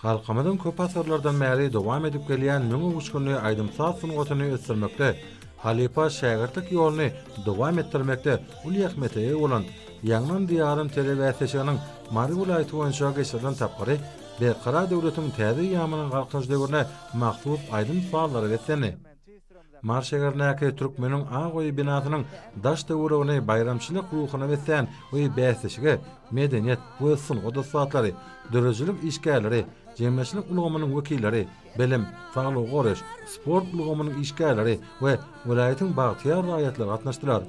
Halkymyzyň köp asyrlardan bäri dowam edip gelýän müň öwüşginli aýdym-saz sungatyny ösdürmekde, halypa-şägirtlik ýoluny dowam etdirmekde uly ähmiýete eýe bolan Ýaňlan Diýarym telebäsleşiginiň Mary welaýaty boýunça geçirilen tapgyry Berkarar döwletiň täze eýýamynyň Galkynyş döwrüne mahsus aýdym-sazlara beslendi. Mary şäherindäki Türkmeniň ak öýi binasynyň daş-töweregini baýramçylyk ruhuna beslän bu bäsleşige medeniýet we sungat ussatlary, döredijilik işgärleri, jemgyýetçilik ulgamynyň wekilleri, bilim, saglygy goraýyş, sport ulgamynyň işgärleri we welaýatyň bagtyýar raýatlary gatnaşdylar.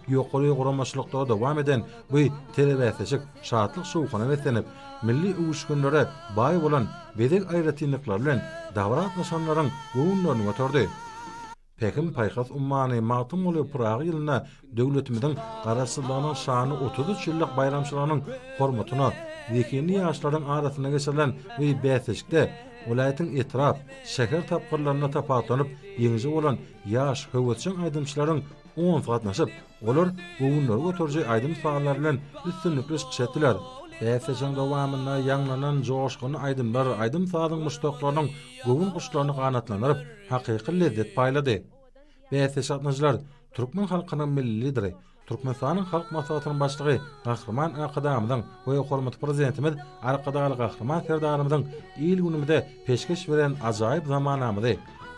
Ýokary guramaçylykda dowam eden bu telebäsleşik şatlyk-şowhuna beslenip, milli öwüşginlere baý bolan bezeg aýratynlyklary bilen dabara gatnaşanlaryň göwünlerini göterdi. Pähim-paýhas ummany Magtymguly Pyragy ýylynda döwletimiziň Garaşsyzlygynyň şanly otuz üç ýyllyk baýramçylygynyň hormatyna zehinli ýaşlaryň arasynda geçirilen bu bäsleşikde welaýatyň etrap, şäher tapgyrlarynda tapawutlanyp ýeňiji bolan ýaş, höwesjeň aýdymçylaryň Oňa gatnaşyp, olar göwünleri göteriji aýdym-sazlar bilen üstünlikli çykyş etdiler. Bäsleşigiň dowamynda ýaňlanan joşgunly aýdymlar aýdym-sazyň muşdaklarynyň göwün guşlaryny ganatlandyryp, hakyky lezzet paýlady. Bäsleşige gatnaşyjylar türkmen halkynyň Milli Lideri, Türkmenistanyň Halk Maslahatynyň Başlygy Gahryman Arkadagymyzyň we hormatly Prezidentimiz Arkadagly Gahryman Serdarymyzyň il-günümize peşgeş beren ajaýyp zamanamyzy,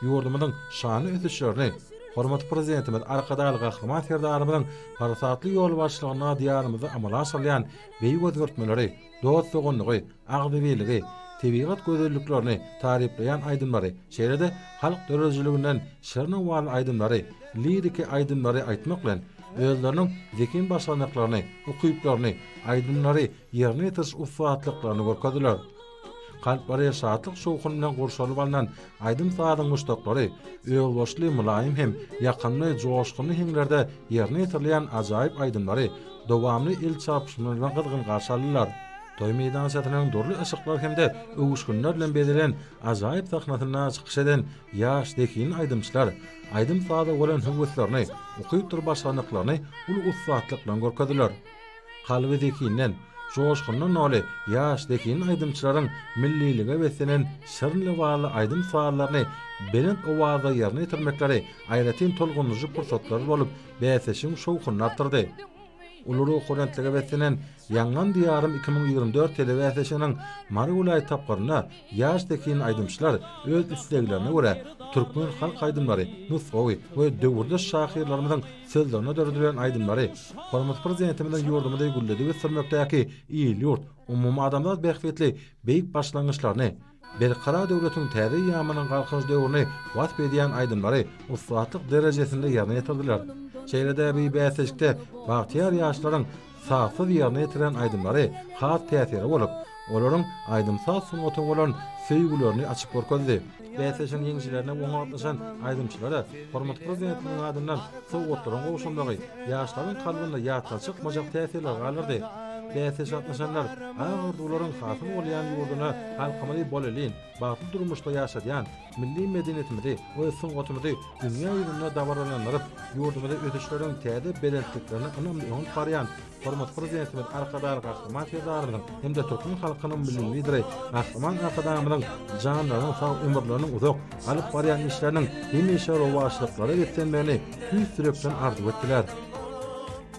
ýurdumyzyň şanly ösüşlerini hormatly Prezidentimiz Arkadagly Gahryman Serdarymyzyň parasatly ýolbaşçylygynda Diýarymyzda amala aşyrylýan beýik özgertmeleri, dost-doganlygy, agzybirligi, tebigat gözelliklerini taryplaýan aýdymlary, şeýle-de halk döredijiliginden şir-numaly aýdymlary, liriki aýdymlary aýtmak bilen, özleriniň zehin başarnyklaryny, ukyplaryny, aýdymlary ýerine ýetiriş ussatlyklaryny görkezdiler. Kalplary şatlyk-şowhun bilen gurşalyp alnan aýdym-sazyň muşdaklary özboluşly mylaýym hem ýakymly joşgunly heňlerde ýerine ýetirilýän ajaýyp aýdymlary dowamly el çarpyşmalardan gyzgyn garşy aldylar. Toý meýdançasynyň dürli yşyklar hem-de öwüşginler bilen bezelen ajaýyp sahnasynda çykyş eden ýaş zehinli aýdymçylar aýdym-saza bolan höweslerini, ukypdyr başarnyklaryny uly ussatlyk bilen görkezdiler. Kalby zekinden, joşgundan doly ýaş zehin aýdymçylaryň millilige beslenen şirin lebaply aýdym-sallaryny belent owazda ýerine ýetirmekleri aýratyn tolgundyryjy pursatlar bolup, bäsleşigiň şowhunyny artdyrdy. Uly ruhubelentlige beslenen Ýaňlan diýarym iki müň ýigrimi dört telebäsleşiginiň Mary welaýat tapgyrynda Ýaş zehin aýdymçylar öz isleglerine görä türkmen halk aýdymlary, nusgawy we döwürdeş şahyrlarymyzyň sözlerine döredilen aýdymlary Hormatly Prezidentimiziň ýurdumyzy gülledip ösdürmekdäki il-ýurt, umumadamzat bähbitli beýik başlangyçlaryny, Berkarar döwletiň täze ýamanyň galkynyş döwrüni wasp edýän aýdymlary ussatlyk derejesinde ýerine ýetirdiler. Şeýle-de bu bäsleşikde bagtyýar ýaşlaryň sazsyz ýerine ýetiren aýdymlary has täsirli bolup, olaryň aýdym-saz sungata bolan söýgülerini açyp görkezdi. Bäsleşigiň ýeňijilerine oňa gatnaşan aýdymçylara hormatly Prezidentimiziň adyndan sowgatlaryň gowşamagy ýaşlaryň kalbynda ýatdan çykmajak täsirler galdyrdy. Bäsleşige gatnaşanlar ak orduwlaryň hasyl bolýan ýurduna halkymyzy bolelin, bagtly durmuşda ýaşadýan, Milli medeniýetimizi we sungatymyzy dünýä ýüzünde dabaralandyryp, ýurdumyzy ösüşleriň täze belentliklerine ynamly öňüp barýan hormatly Prezidentimiz Arkadagly Gahryman Serdarymyzyň hem-de türkmen halkynyň Milli Lideri Gahryman Arkadagymyzyň janlarynyň sag, ömürleriniň uzak, alyp barýan işleriniň hemişe rowaçlyklara beslenmegini tüýs ýürekden arzuw etdiler.